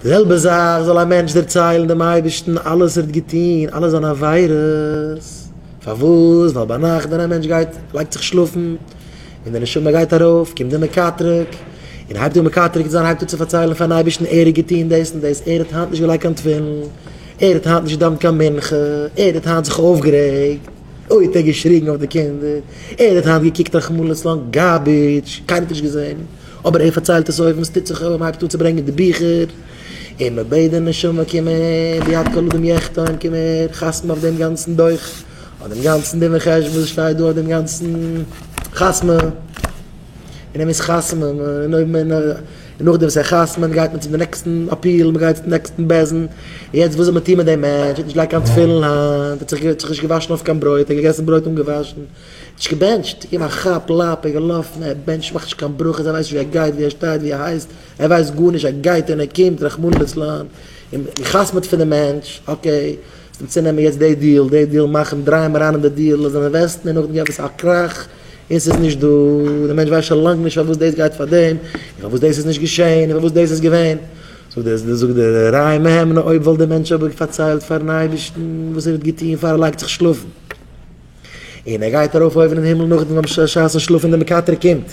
די זעלבע זאך זאל א מענטש דערציילן דעם אייבערשטן אלעס ער האט געטון, אלע זיינע עבירות, פארוואס? ווייל ביינאכט ווען א מענטש גייט לייגט זיך שלאפן, און די נשמה גייט ארויף, קומט דער מקטרג, און הייבט אן מקטרג זיין, הייבט אן צו פארציילן פארן אייבערשטן ער האט געטון דאס און דאס, ער האט היינט נישט געלייגט קיין תפילין, ער האט היינט נישט געדאוונט קיין מנחה, ער האט היינט זיך אויפגערעגט. אוי האט ער געשריגן אויף די קינדער, ער האט היינט געקוקט א חמלות לאנג גארביטש, קיינער האט נישט געזען, אבער ער פארציילט עס אויב וואס טוט זיך אויב מען הייבט אן צו ברענגען די ביכער, און מען בעט די נשמה קום הער, ביד כל אדם יחתום, קום הער, חתמ'ן אויף דעם גאנצן דו"ח, אויף דעם גאנצן דין וחשבון וואס שטייט דא, אויף דעם גאנצן חתמ'ן, און ער מוז חתמ'ן, און אויב מען. און נאכדעם וואס ער חתמנ'ט גייט מען צום די נעקסטן אפיעל, מען גייט צום נעקסטן בית דין, יעצט וואס זאל מען טון מיט דעם מענטש, האט נישט געלייגט קיין תפילין היינט, האט זיך נישט געוואשן אויף קיין ברויט, ער האט געגעסן ברויט אנגעוואשן, נישט געבענטשט, געגעבן א כאפ לאפ, ער געלאפן, ער בענטשט מאכט נישט קיין ברכות, ער ווייסט נישט ווי ער גייט, ווי ער שטייט, ווי ער הייסט, ער ווייסט גארנישט, ער גייט און ער קומט, רחמנא ליצלן, און מען חתמנ'ט פון די מענטש, אקעי, צו נעמען יעצט די דיעל, די דיעל, מאכן, דרייען אריין אין די דיעל, עס זענען וועסטן, און נאכדעם גיבן עס א קראך, און ס'איז נישט דא, דער מענטש ווייסט שוין לאנג נישט פארוואס דאס גייט פאר דעם, און פארוואס דאס איז נישט געשען, און פארוואס דאס איז געווען. זאגט דער ר י מהימנא אויב וואלט דער מענטש אבער פארציילט פארן אייבערשטן וואס ער האט געטון פאר ער לייגט זיך שלאפן, און ער גייט ארויף אויבן אין הימל נאכדעם וואס א שעה'ס שלאף און דער מקטרג קומט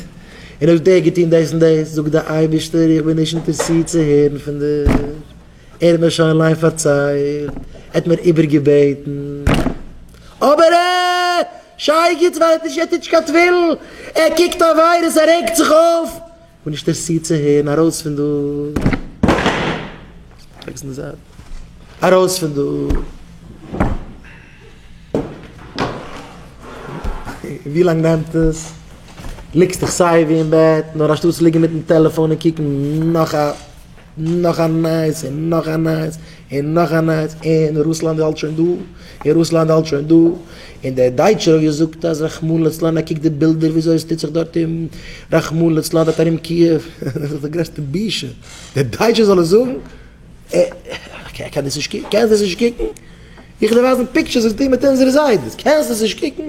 און האט דער געטון דאס און דאס, זאגט דער אייבערשטער איך בין נישט אינטערסירט צו הערן פון דיר, ער האט מיר שוין אליין פארציילט, ער האט מיר איבערגעבעטן, אבער ער. שייגעץ ווייסט נישט ער טוט נישט קיין טווירל, ער קוקט א וויירוס ער רעגט זיך אויף, און נישט אינטערסירט צו הערן ארויס פון דא, לייג עס אין די זייט, ארויס פון דא, ווי לאנג נעמט עס, ליגסט דיך סייווי אין בעט, נאר אנשטאטס ליגן מיטן טעלעפאן און קוקן נאך א. נאך א נייעס און נאך א נייעס און נאך א נייעס און רוסלאנד האלט שוין דא און רוסלאנד האלט שוין דא און דער דייטשער האט געזאגט אז רחמנא לצלן ער קוקט די בילדער וויאזוי עס טוט זיך דארט און רחמנא לצלן דארט ארום קיעוו דאס איז די גרעסטע בושה דער דייטשער זאל עס זאגן איך קען דאס נישט קוקן קענסט דאס נישט קוקן איך וועל דיר ווייזן פיקטשערס וואס זיי טוהן מיט אונזערע זיידעס קענסט דאס נישט קוקן.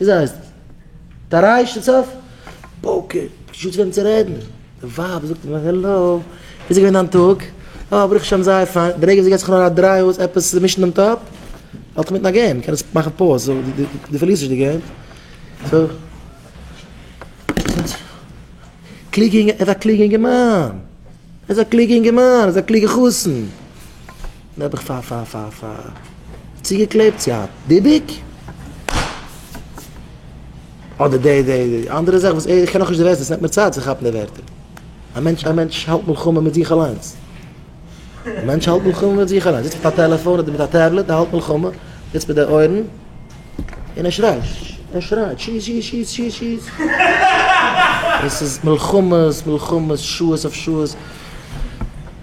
וויאזוי הייסט עס? טעראי שטיץ אויף פאוקער? שוץ וועם צו רעדן, די ווייב זאגט אים העלא, וויאזוי געווען דיין טאג? אה ברוך השם זייער פיין, די רגע זי געט זיך נאר א דריי אויס עפעס צו מישן דעם טאפ, האלט איך מיטן א געים, קען עס מאכן פאוז זאל די פארלירסט נישט די געים, סא קלוגע אינגע, ער איז א קלוגע אינגערמאן, ער איז א קלוגע אינגערמאן, ער איז א קלוגע חתן. נעבעך פ פ פ פ צוגעקלעבט צו א ביביק אדער די די די אנדערע זאך וואס איך קען נאכנישט די ווערטער ס'נעמט מיר צייט צו כאפן די ווערטער א מענטש א מענטש האלט מלחמה מיט זיך אליינס א מענטש האלט מלחמה מיט זיך אליינס זיצט מיט א טעלעפאן אדער מיט א טעבלעט ער האלט מלחמה זיצט מיט די אויערן און ער שרייט ער שרייט שיס שיס שיס שיס שיס עס איז מלחמות מלחמות שעות אויף שעות.